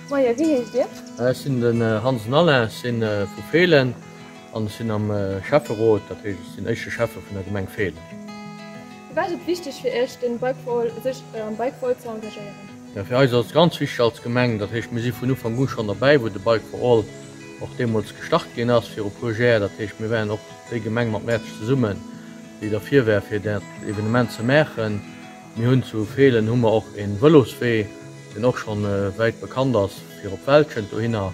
Moie, wéi heescht Dir? Ech sinn den Hansen Alain, ech si vu Feelen an ech sinn am Schäfferot, dat heescht ech sinn éischte Schäffe vun der Gemeng Feelen. Firwat ass et wichteg fir Iech, sech am Bike for All ze engagéieren? Mä fir eis ass et ganz wichteg als Gemeng, dat heescht mir si vun Ufank u schonn derbäi, wou de Bike for All och deemools gestart ginn ass, viru e puer Jär, dat heescht mir waren och déi Gemeng mat Mäertert zesummen, déi derfir war fir dat Evenement ze maachen. Mir hunn zu Feelen hu mer och e Vëloswee, deen och schonn wäit bekannt ass, fir op Wäldchent dohinner,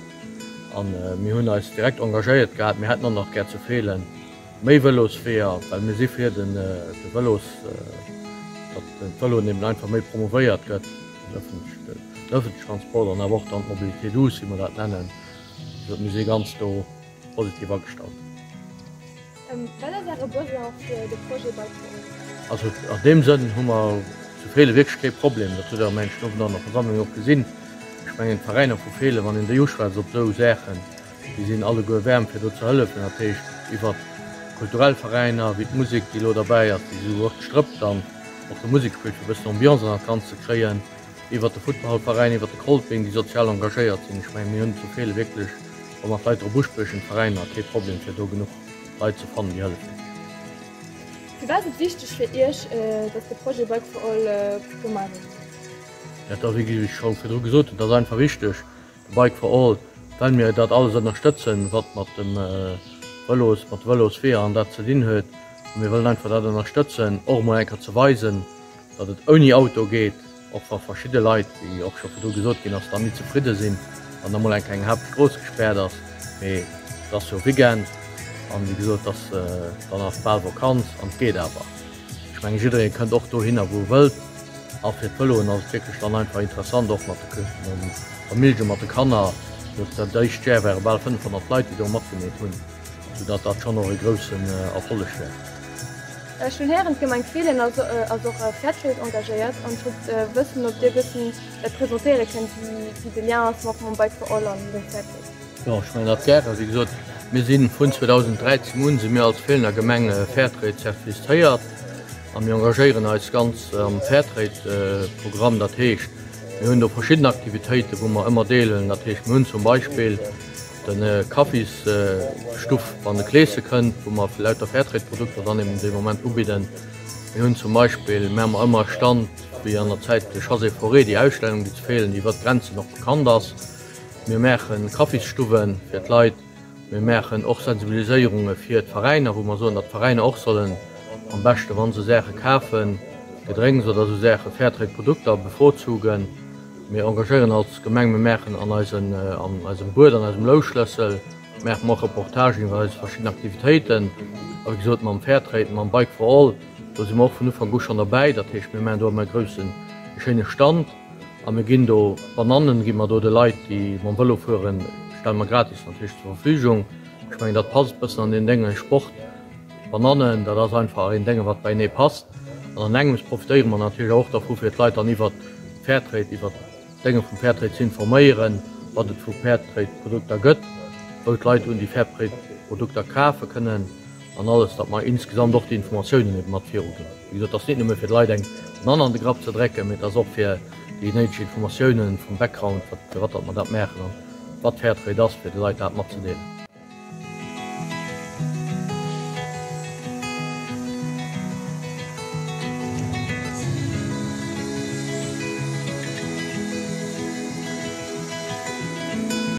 a mir hunn eis direkt engagéiert gehat, mir hätten och nach gär zu Feelen, Méi Vëlosweeër, well mir si fir den de Vëlos, datt den Vëloen eben einfach méi promouvéiert gëtt, den öffentliche, den öffentliche Transport an awer och dann d'Mobilité douce, wéi mer dat nennen. Also mir si ganz do positiv agestallt. Wat ass Äre Besoin fir de Projet beizehuelen? Also an deem Sënn hu mer zu Feelen wierklech kee Problem. Dat hutt Der am englischen Owend an der Versammlung och gesinn. Ech mengen d'Veräiner vu Feelen, wann een déi uschwätzt op esou Saachen, Déi sinn alleguer wärm fir do ze hëllefen, dat heescht iwwert kulturell Veräiner wéi d'Musek, déi elo derbäi ass, déi esou och d'Strëppt an och de Musekschool fir e bëssen Ambiance an dat Ganzt ze kréien, iwwert de Futtballveräin, iwwert de Kolping, déi sozial engagéiert sinn. Ech mengen, mir hunn zu Feelen wierklech, wa mer d'Leit drop uspriechen, d'Veräiner, kee Problem fir do genuch Leit ze fannen, déi hëllefen. Firwat ass et wichteg fir Iech, datt de Projet Bike for All gemaach gëtt? Dat ass, wéi ech scho virdru gesot hunn, dat ass einfach wichteg. Bike for All, well mir dat alles ënnerstëtzen, wat mat de Vëlosweeër an dat ze dinn huet. A mir wëllen einfach dat ënnerstëtzen, och emol enker ze weisen, datt et ouni Auto geet, och wa verschidde Leit, wéi och scho virdru gesot ginn ass, dann ni zefridde sinn, wann da mol enker eng Haaptstrooss gespaart ass. Mee et ass jo Weekend an, wéi gesot, et ass dann nach bal Vakanz an et geet awer. Ech mengen jiddereen kënnt och dohinner wou e wëllt a fir d'Vëloen ass et wierklech dann einfach interessant och mat de Këschten an de Familljen, mat de Kanner. Just dat éischt Jar ware bal 500 Leit déi do matgemeet hunn, sou dat dat schonn och e groussen Erfolleg war. Ech hunn héieren d'Gemeng Feelen ass ass och a Fairtrade engagéiert an ech wollt wëssen ob dir e bëssen dat presentéiere kënnt wéi wéi de Lien ass mat mam Bike for All an dem Fairtrade. Jo, ech mengen dat gären. Wéi gesot, mir si vun 2013 un si mir als Feelener Gemeng Fairtrade zertifizéiert a mir engagéieren eis ganz am Fairtrade-Programm. Dat heescht, mir hunn do verschidden Aktivitéiten, wou mer ëmmer deelen. Dat heescht, mir hunn zum Beispill de Kaffisstuff, wann de Kleeschen kënnt, wou mer lauter Fairtrade-Produkter dann eben dee Moment ubidden. Mir hunn zum Beispill, mir hu ëmmer e Stand, wéi an der Zäit Josée Fauré, déi Ausstellung, déi zu Feelen iwwert d'Grenzen och bekannt ass. Mir maachen Kaffisstuwwen fir d'Leit. Mir maachen och Sensibiliséierunge fir d'Veräiner, wou mer soen, datt d'Veräiner och sollen am beschte wa se Saache kafen, Gedrénks oder esou Saache, Fairtrade Produkter bevorzugen. Mir engagéieren als Gemeng, mir maachen an eisem Buet, an eisem Louschlëssel maache mer och Reportagen iwwer eis verschidden Aktivitéiten. A wéi gesot mam Fairtrade, mam Bike for All, do si mer och vun Ufank u schonn derbäi. Dat heescht, mir maachen do ëmmer e groussen, e schéine Stand. A mir ginn do Banannen, gi mer do de Leit, déi mam Vëlo fueren, stelle mer gratis natierlech zur Verfügung. Ech mengen, dat passt e bëssen an deen Dénge Sport. Banannen, dat ass einfach een Dénge, wat beienee passt. An an engems profitéiere mer natierlech och dervu, fir d'Leit dann iwwert Fairtrade, iwwert d'Dénge vum Fairtrade ze informéieren, wat et vu Fairtrade-Produkter gëtt, wou d'Leit un déi Fairtrade-Produkter kafe kënnen. An alles, datt mer insgesamt och déi Informatiounen ebe mat viruginn. Wéi gesot, dat ass net nëmme fir d'Leit eng Nann an de Grapp ze drecken, mee et ass och fir déi néideg Informatioune vum Background, firwat datt mer dat maachen an wat Fairtrade et ass, fir de Leit dat matzedeelen.